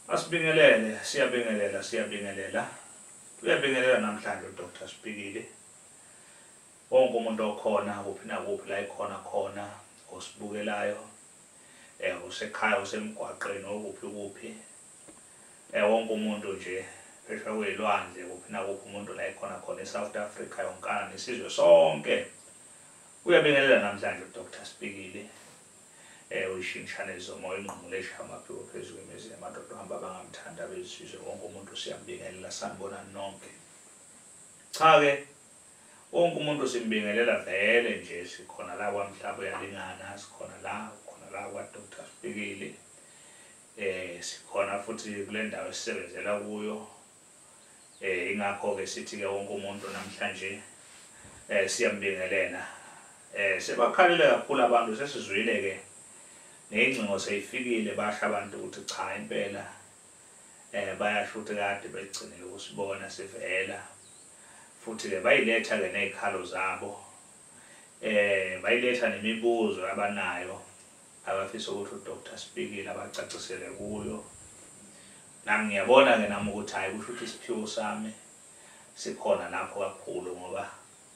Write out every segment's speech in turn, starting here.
Asibingelele, siyabingelela, siyabingelela. Uyabingelela namhlanje uDr Sibhikile. Wonke umuntu okhona kuphi nakuphi la ikhona khona osibukelayo eh usekhaya usemgwaqeni okuphi kuphi eh wonke umuntu nje phesha kwezilwandle kuphi nakuphi umuntu la ikhona khona eSouth Africa yonkana nesizwe sonke uyabingelela namhlanje uDr Sibhikile Ewe ishintshane izomoya ingqungule ishaye amaphiko phezu kwemizi yamadoda uhamba abangamthandi abezizwe wonke umuntu siyambingelela sanibonani nonke cha ke wonke umuntu simbingelela vele nje sikhona la kwamhlaba uyalingana sikhona la khona la kwadr sibikile eh sikhona futhi kule ndawo esisebenzela kuyo Eh ingakho ke sithi ke wonke umuntu namhlanje eh siyambingelela. Eh sebakhalile kakhulu abantu sesizwile ke neyingcingo seyifikile basha abantu ukuthi cha impela eh bayasho ukuthi kade begcinile ukusibona sivela futhi ke bayiletha ke nezikhalo zabo eh bayiletha nemibuzo abanayo abafisa ukuthi uDr Sibikile abacacisele kuyo Nami ngiyabona ke nami ukuthi hayi kusho ukuthi isiphiwo sami sikhona lapho kakhulu ngoba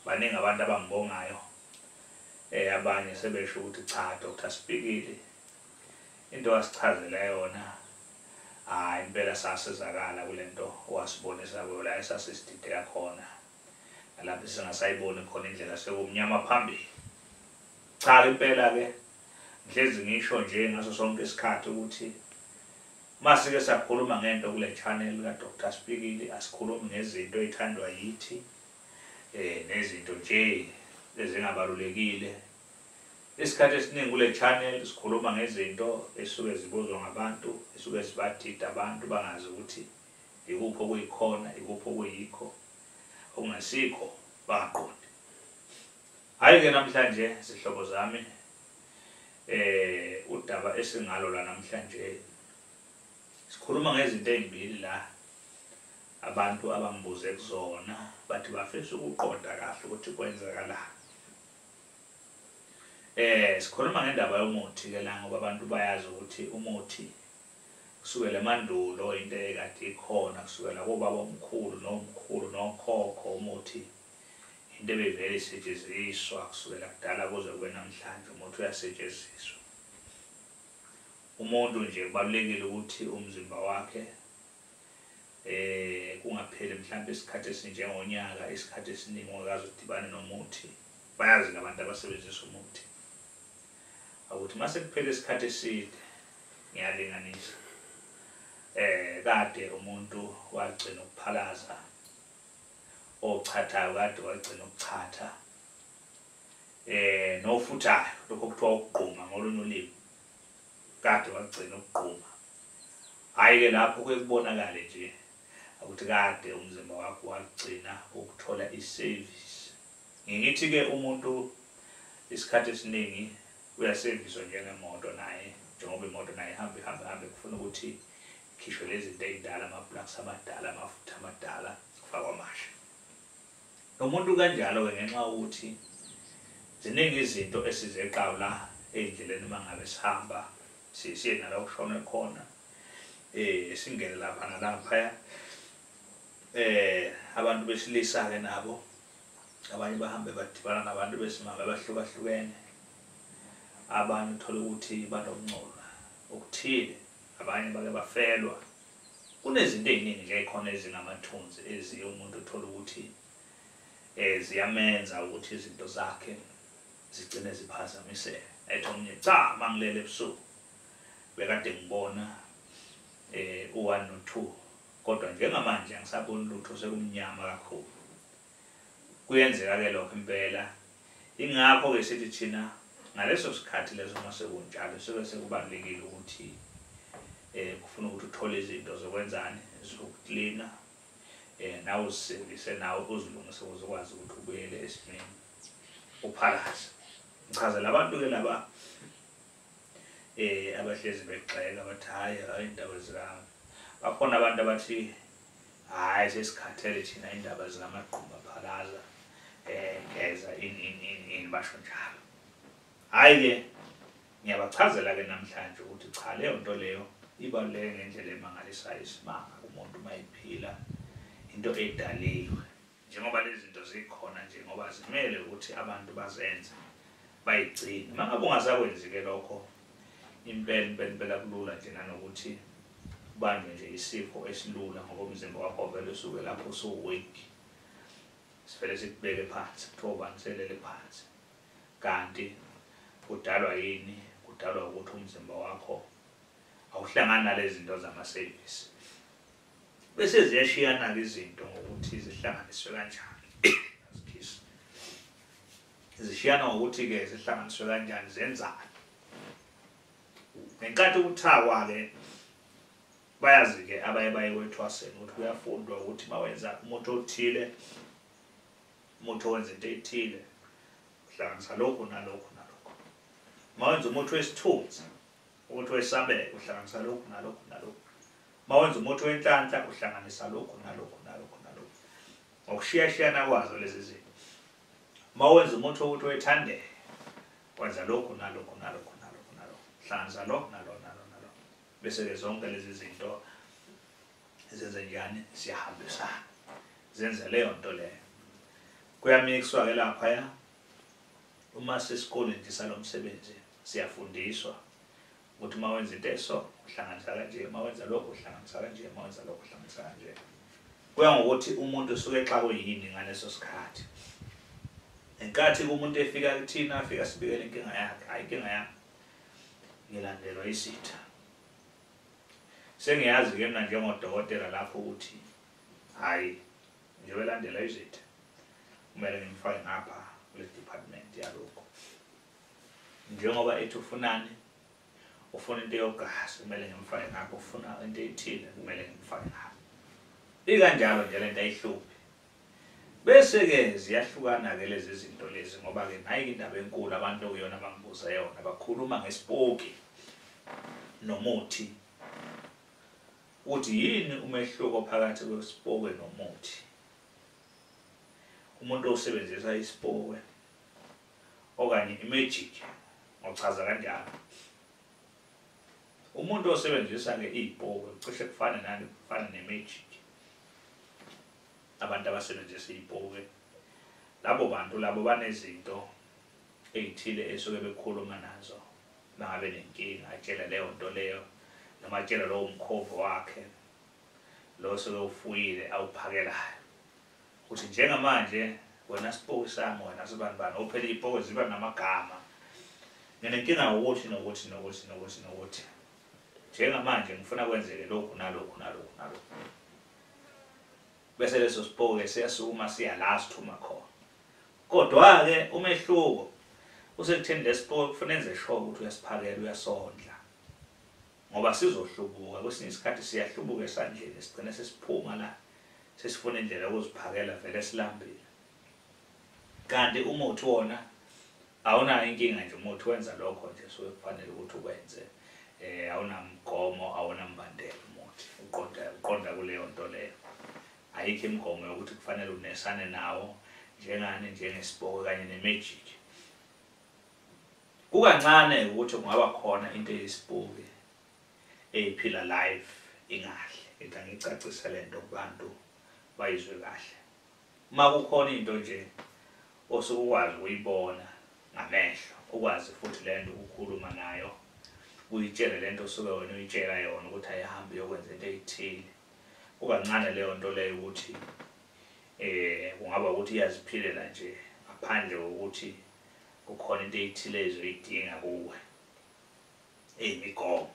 baningi abantu abangibongayo eh abanye sebesho ukuthi cha Dr Sibhikili into wasichazela yona hayi impela sasizakala kulento wasibonisa kuyo la esasisidide yakhona lapho singasayiboni khona indlela sekumnyama phambili cha impela ke Ngihlezi ngisho nje ngaso sonke isikhathi ukuthi masike sakhuluma ngento kule channel ka Dr Spikili asikhulumi ngezinto ezithandwa yithi eh nezinto nje ezingabalulekile isikhathi esiningi kule channel sikhuluma ngezinto esuke zibuzwa ngabantu esuke sibathida abantu bangazi ukuthi ikuphi okuyikhona ikuphi okuyikho okungasikho baqonde Hhayi ke namhlanje zihlobo zami eh udaba esingalo la namhlanje sikhuluma ngezinto ezimbili la abantu abangibuze kuzona bathi bafisa ukuqonda kahle ukuthi kwenzakala eh sikhuluma ngendaba yomuthi ke la ngoba abantu bayazi ukuthi umuthi kusukela emandulo into ekade ikhona kusukela kobaba omkhulu nomkhulu nokhokho umuthi Into ebivele isetsheziswa kusukela kudala kuze kube namhlanje umuthi uyasetsheziswa. Umuntu nje kubalulekile ukuthi umzimba wakhe eh kungapheli mhlawumbe isikhathi esinjengonyaka isikhathi esiningi ungakaze udibane nomuthi bayazi labantu abasebenzisa umuthi ukuthi mase kuphele isikhathi eside ngiyalinganisa eh kade umuntu wagcina ukuphalaza ochathayo kade wagcina ukuchatha eh nofuthayo lokho kuthiwa ukugquma ngolunye ulimi kade wagcina ukugquma hayi ke lapho kuye kubonakale nje ukuthi kade umzimba wakho wagcina ukuthola iservice ngithi ke umuntu isikhathi esiningi uyaserviswa njengemoto naye njengoba imoto naye ihamba ihamba ihamba kufuna ukuthi Khishwe lezinto eydala ama plugs amadala amafutha amadala kufakwa amasha. Nomuntu kanjalo ke ngenxa ukuthi ziningi izinto esizeqawu la endleleni mangabe sihamba sisiye nala kushona khona eh singene lapha nalapha eh abantu besilisa ke nabo abanye bahambe badibana nabantu besimame abahlukahlukene abanye uthole ukuthi banomncolo okuthile Abanye bake bafelwa. Kunezinto eziningi nje ekhona ezingamathunzi eziye umuntu uthole ukuthi eh ziyamenza ukuthi izinto zakhe zigcine ziphazamiseka. Ethi omunye cha mangilele ebusuku bekade ngibona eh u1 no2 kodwa njengamanje angisaboni lutho sekumnyama kakhulu. Kuyenzeka-ke lokho impela. Yingakho-ke sithi thina ngaleso sikhathi leso uma sekunjalo sobe sekubalulekile ukuthi um kufuna ukuthi uthole izinto zokwenzani zokuklina um eh, nawe uzisevise nawe uzilungise ukuze ukwazi ukuthi ubuyele esimeni uphalaze ngichazela abantu-ke laba um abahlezi begxeka bathi hhayi hhayi indaba zikami bakhona abantu abathi Hayi sesikhathele thina indaba zinamagquma phalaza eh geza in in in in basho njalo. Hayi ke ngiyabachazela ke namhlanje ukuthi cha leyo nto leyo ibaluleke ngendlela emangalisayo isimanga kumuntu mayiphila into edaliwe. njengoba lezi zinto zikhona nje ngoba zimele ukuthi abantu bazenze bayigcine uma ngabe ungazakwenzi-ke lokho impela impela impela kulula nje nanokuthi ubanjwe nje isifo esilula ngoba umzimba wakho vele usuke lapho usuweak sivele sikubeke phansi kuthiwa ubani selele phansi kanti kudalwa yini kudalwa ukuthi umzimba wakho awuhlangani nalezi zinto zama-service Bese ziyashiyana-ke izinto ngokuthi zihlanganiswe kanjani. Zishiyana ngokuthi-ke zihlanganiswe kanjani zenzani. Ngenkathi kuthakwa-ke bayazi-ke abaye baye kwethwaseni ukuthi kuyafundwa ukuthi uma wenza umuthi othile umuthi owenza into ethile uhlanganisa lokhu nalokhu nalokhu uma wenza umuthi wesithunzi umuthi wesabelo uhlanganisa lokhu nalokhu nalokhu Uma wenza umuthi wenhlanhla uhlanganisa lokhu nalokhu nalokhu nalokhu. Ngokushiyashiyana kwazo lezi zinto. Uma wenza umuthi wokuthi wethandeke wenza lokhu nalokhu nalokhu nalokhu nalokhu. Hlanza lo nalo nalo nalo. Bese ke zonke lezi zinto zenze njani siyahambisana. Zenze leyo nto leyo. Kuyamixwa ke lapha ya. Uma sesikoleni nje salomsebenzi siyafundiswa ukuthi uma wenza into eso uhlanganisa kanje uma wenza lokho uhlanganisa kanje uma wenza lokho uhlanganisa kanje kuya ngokuthi umuntu usuke exakwe yini ngaleso sikhathi ngenkathi umuntu efika kuthina afika sibikele inkinga yakhe hayi inkinga yakhe ngilandelwa isitha sengiyazi ke mina njengodokotela lapho ukuthi hayi njengoba elandela izitha kumele ngimfake ngapha kule department yalokho njengoba ethi ufunani ufuna into yogazi kumele ngimfake ngakho ufuna into ethile kumele ngimfake ngakho ikanjalo nje lento ayihluphi bese ke ziyahlukana ke lezi zinto lezi ngoba ke nayi indaba enkulu abantu okuyona bangibuza yona bakhuluma ngesipoki nomuthi ukuthi yini umehluko phakathi kwesipoki nomuthi umuntu osebenzisa isipoki okanye imejiki ngochaza kanjalo umuntu osebenzisa ke iy'bhoki cishe kufane nani kufane nemejiki abantu abasebenzisa iy'bhoki labo bantu labo banezinto ey'thile esuke bekhuluma nazo bangabe nenkinga atshele leyo nto leyo noma atshele lowo mkhovu wakhe lo sewufuyile awuphakelayo ukuthi njengamanje wena sipoki sami wena sibani bani ophela ipoki ziba namagama nginenkinga ukuthi nokuthi nokuthi nokuthi nokuthi njengamanje ngifuna kwenzeke lokhu nalokhu nalokhu nalokhu bese leso sipoke siyasukuma siya la sithuma khona kodwa-ke umehluko usekutheni lesipoke kufuna enze sure ukuthi uyasiphakela uyasondla ngoba sizohlubuka kwesinye isikhathi siyahlubuka esandleni sigcine sesiphuma la sesifuna indlela yokuziphakela vele silambile kanti umuthi wona awunayo inkinga nje umuthi wenza lokho nje so kufanele ukuthi ukwenze eh awunamgomo awunambandela umuthi uqonda uqonda kuleyo nto leyo ayikho imigomo yokuthi kufanele unesane nawo njengani njengesiboko kanye nemagic Kukancane ukuthi kungaba khona into eyisibuki eyiphila live ingahle ngithi angicacise le nto kubantu bayizwe kahle uma kukhona into nje osuke ukwazi ukuyibona ngamehlo ukwazi futhi le nto ukukhuluma nayo uyitshele le nto osuke wena uyitshela yona ukuthi ayihambi yokwenza into eyithile kukancane leyo nto leyo ukuthi um kungaba ukuthi iyaziphilela nje ngaphandle kokuthi kukhona into ethile ezoyidinga kuwe eyimigomo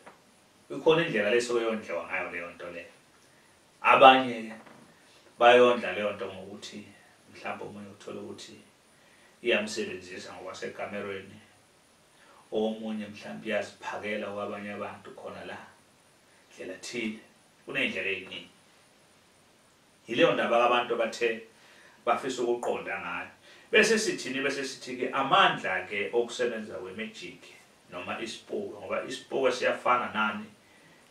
ikhona indlela lesuke yondliwa ngayo leyo nto leyo abanye bayondla leyo nto ngokuthi mhlawumbe omunye uthole ukuthi iyamsebenzisa ngokwasekamerweni omunye mhlawumbe iyaziphakela kwabanye abantu khona la ndlela thile kuney'ndlela ey'ningi Yileyo ndaba ke abantu abathe bafisa ukuqonda ngayo. Bese sithini bese sithi ke amandla ke okusebenza kwemagic noma isipoke ngoba isipoke siyafana nani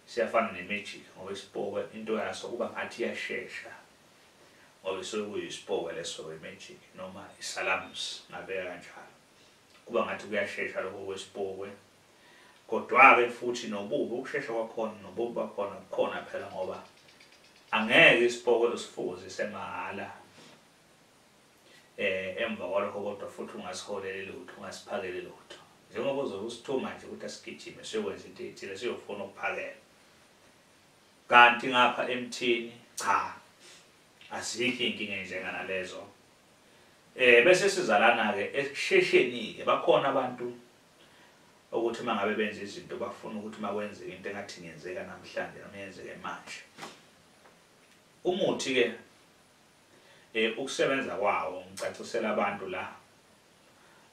siyafana nemagic ngoba isipoke into yaso kuba ngathi iyashesha ngoba isuke kuyisipoke leso wemagic noma isalams ngabeka kanjalo kuba ngathi kuyashesha lokho kwesipoke Kodwake futhi nobubi ukushesha kwakhona nobubi bakhona bukhona phela ngoba angeke isipokelo sifuze semahhala eh emva kwalokho kodwa futhi ungasiholeli lutho ungasiphakeli lutho njengoba uzobe usithuma nje ukuthi asigijime siyokwenza into ethile siyofuna ukuphakela kanti ngapha emthini cha azikho inkinga enjenga nalezo eh bese sizalana ke ekushesheni ke bakhona abantu Okuthi uma ngabe benza izinto bafuna ukuthi uma kwenzeka into engathi ingenzeka namhlanje noma yenzeke manje. Umuthi-ke um ukusebenza kwawo ngicacisela abantu la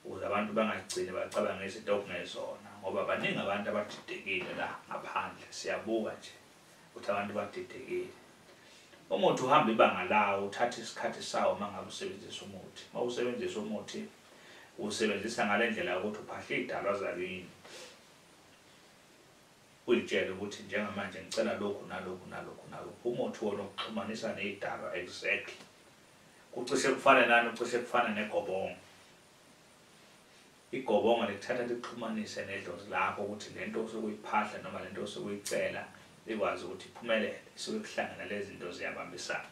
ukuze abantu bangagcini bacabanga izinto okungezona ngoba baningi abantu abadidekile la ngaphandle siyabuka nje ukuthi abantu badidekile umuthi uhamba ibanga lawo uthatha isikhathi sawo uma ngabe usebenzisa umuthi uma usebenzisa umuthi Usebenzisa ngale ndlela yokuthi uphahle iy'dalwa zakini, uyitshele ukuthi njengamanje ngicela lokhu nalokhu nalokhu nalokhu. Umuthi wona ukuxhumanisa ney'dalwa exactly. Kucishe kufane nani, kucishe kufane negobongo. Igobongo likuthatha likuxhumanise nedlozi lakho ukuthi le nto osuke uyiphahla noma le nto osuke uyicela ikwazi ukuthi iphumelele. Isuke kuhlangana lezi zinto ziyabambisana.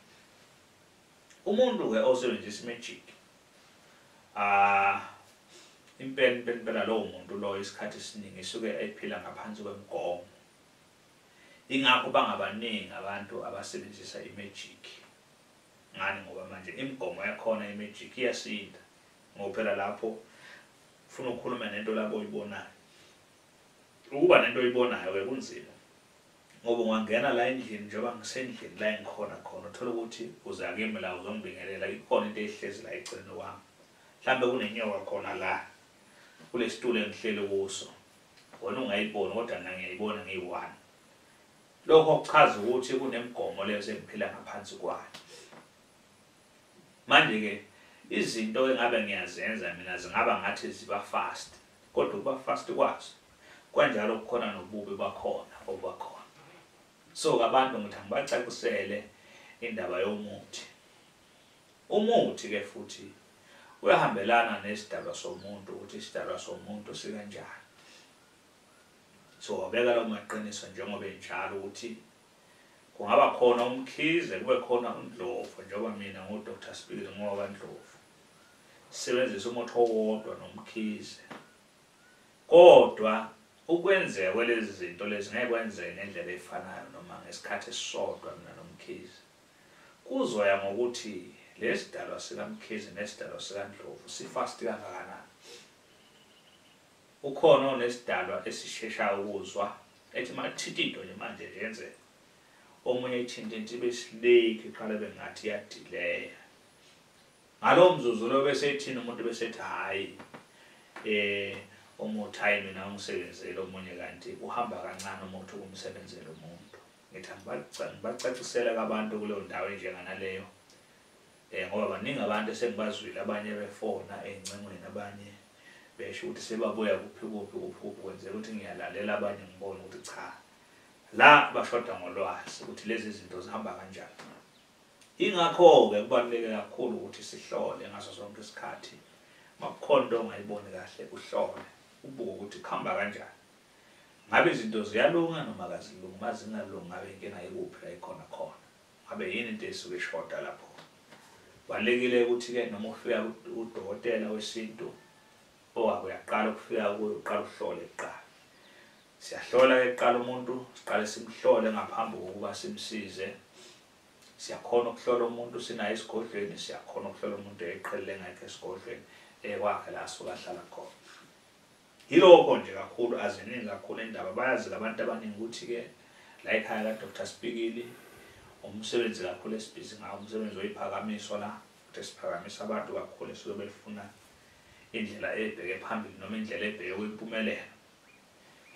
Umuntu ke osebenzisa imagic ah impela impela impela lowo muntu loyo isikhathi esiningi isuke ephila ngaphansi kwemigomo ingakho bangabaningi abantu abasebenzisa imagic ngani ngoba manje imigomo yakhona imagic iyasinda ngoba phela lapho ufuna ukukhuluma nento labo oyibonayo Ukuba nento oyibonayo ke kunzima ngoba ungangena la endlini njengoba ngisendlini la engikhona khona uthole ukuthi uza kimi la uzongibingelela ikhona into ehlezi la eceleni kwami mhlambe kunenyoka khona la kulesitulo engihleli kuso wena ungayiboni kodwa mina ngiyayibona ngiyi-one lokho kuchaza ukuthi kunemigomo leyo sengiphila ngaphansi kwayo manje-ke izinto engabe ngiyazenza mina zingaba ngathi ziba fast Kodwa ukuba fast kwazo kwanjalo kukhona nobubi bakhona obubakhona. So abantu ngithi angibacacisele indaba yomuthi. Umuthi ke futhi uyahambelana nesidalwa somuntu ukuthi isidalwa somuntu sikanjani. So wabeka lawo maqiniso njengoba enjalo ukuthi kungaba khona umkhize kube khona undlovu njengoba mina ngu-dr spiri ngoba ndlovu Sebenzisa umuthi owodwa nomkhize. Kodwa ukwenzeka kwalezi zinto lezi ngeke kwenzeke ngendlela efanayo noma ngesikhathi esisodwa mina nomkhize. Kuzoya ngokuthi lesidalwa sikamkhize nesidalwa sikandlovu sifast kangakanani. Ukhona onesidalwa esisheshayo ukuzwa ethi makuthinta into nje manje nje yenzeka omunye ithinte into ibe sileki qala bengathi iyadileya ngalowo mzuzu lo bese ethini umuntu bese ethi hhayi eh umuthi hhayi mina ungisebenzele omunye kanti uhamba kancane umuthi ukumsebenzela umuntu ngithi ngibacacisele kabantu kuleyo ndawo enjenganaleyo um ngoba baningi abantu esengibazwile abanye befona ey'ncengweni abanye besho ukuthi sebabuya kuphi kuphi kuphi kuphi kwenzeka ukuthi ngiyalalela abanye ngibone ukuthi cha la bashoda ngolwazi ukuthi lezi zinto zihamba kanjani Ingakho-ke kubaluleke kakhulu ukuthi sihlole ngaso sonke isikhathi. Makukhona into ongayiboni kahle, uhlole, ubuke ukuthi kuhamba kanjani. Ngabe izinto ziyalunga noma kazilungi, uma zingalungi ngabe inkinga ikuphi la ikhona khona. Ngabe yini into esuke ishoda lapho. Kubalulekile ukuthi-ke noma ufika kudokotela wesintu, Owako uyaqala ukufika kuyo uqala uhlole kuqala. Siyahlola ke kuqala umuntu, siqale simhlole ngaphambi kokuba simsize. Siyakhona ukuhlola umuntu sinaye esigodlweni, siyakhona ukuhlola umuntu eqhelile ngakhe esigodlweni ekwakhe la asuka ahlala khona. Yilokho nje kakhulu aziningi kakhulu indaba bayazi labantu abaningi ukuthi ke la ekhaya ka Dr Sibikili umsebenzi kakhulu esibhizi ngawo umsebenzi oyiphakamiso la ukuthi siphakamisa abantu kakhulu esizobe lifuna indlela ebheke phambili noma indlela ebheke kwimpumelelo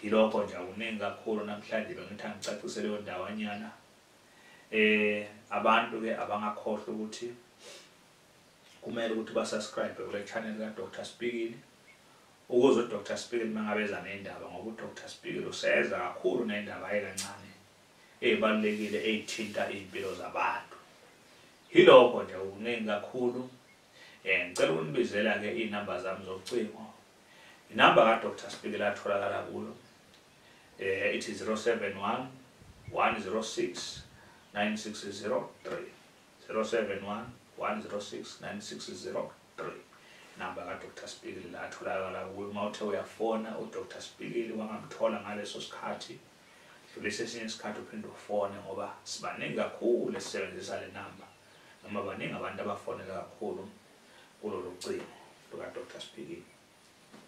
yilokho nje akuningi kakhulu namhlanje bengithi angicacise leyo ndawanyana eh abantu ke abangakhohlwa ukuthi kumele ukuthi ba subscribe kule channel ka Dr Spikili ukuze u Dr Spikili mangabeza nendaba ngoba u Dr Spikili useza kakhulu nendaba ayekancane ezibalulekile ezithinta izimpilo zabantu yilokho nje ukuningi kakhulu Eh ngicela ukunibizela ke inamba zami zocingo. Inamba ka Dr Spikela atholakala kulo. Eh ithi 071 106 9603 071 106 9603 namba ka Dr Spikili la atholakala kuwe uma uthe uyafona u Dr Spikili wangamthola ngaleso sikhathi dlulisa esinye isikhathi uphinde ufone ngoba sibaningi kakhulu esisebenzisa le namba noma baningi abantu abafonela kakhulu kulolu cingo luka-dr sphiki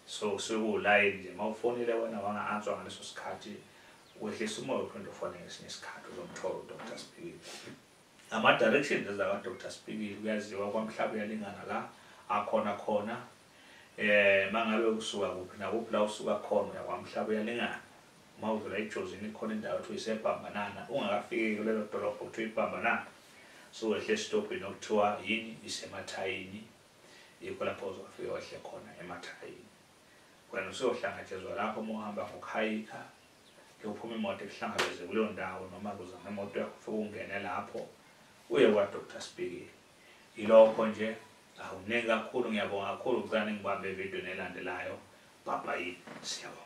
so kusuke kuwulayini nje uma ufonile wena wanga-answa ngaleso sikhathi wehlisa umoya uphinde ufone ngesinye isikhathi uzomthola udr sphiki ama-directions ezaka-dr sphiki kuyaziwa kwamhlaba uyalingana la akhona khona um eh, uma ngabe usuka kuphi nakuphi la usuka khona uyakwamhlaba uyalingana Uma uvela eJozini khona indawo kuthiwa isebhambanana ungakafiki kulelo dolobha kuthiwa ibhambanana so wehle esitobhini okuthiwa yini isemathayini yikho lapho uzofike wehle khona emathayini wena usuyohlangatshezwa lapho uma uhamba ngokuhayikha kuyophuma imoto ekuhlangabeze kuleyo ndawo noma kuzama imoto yakho ufike ungene lapho uye kwadr sibikile yilokho nje awuningi kakhulu ngiyabonga kakhulu kucane ngibambe evidweni elandelayo bhabhayini siyabonga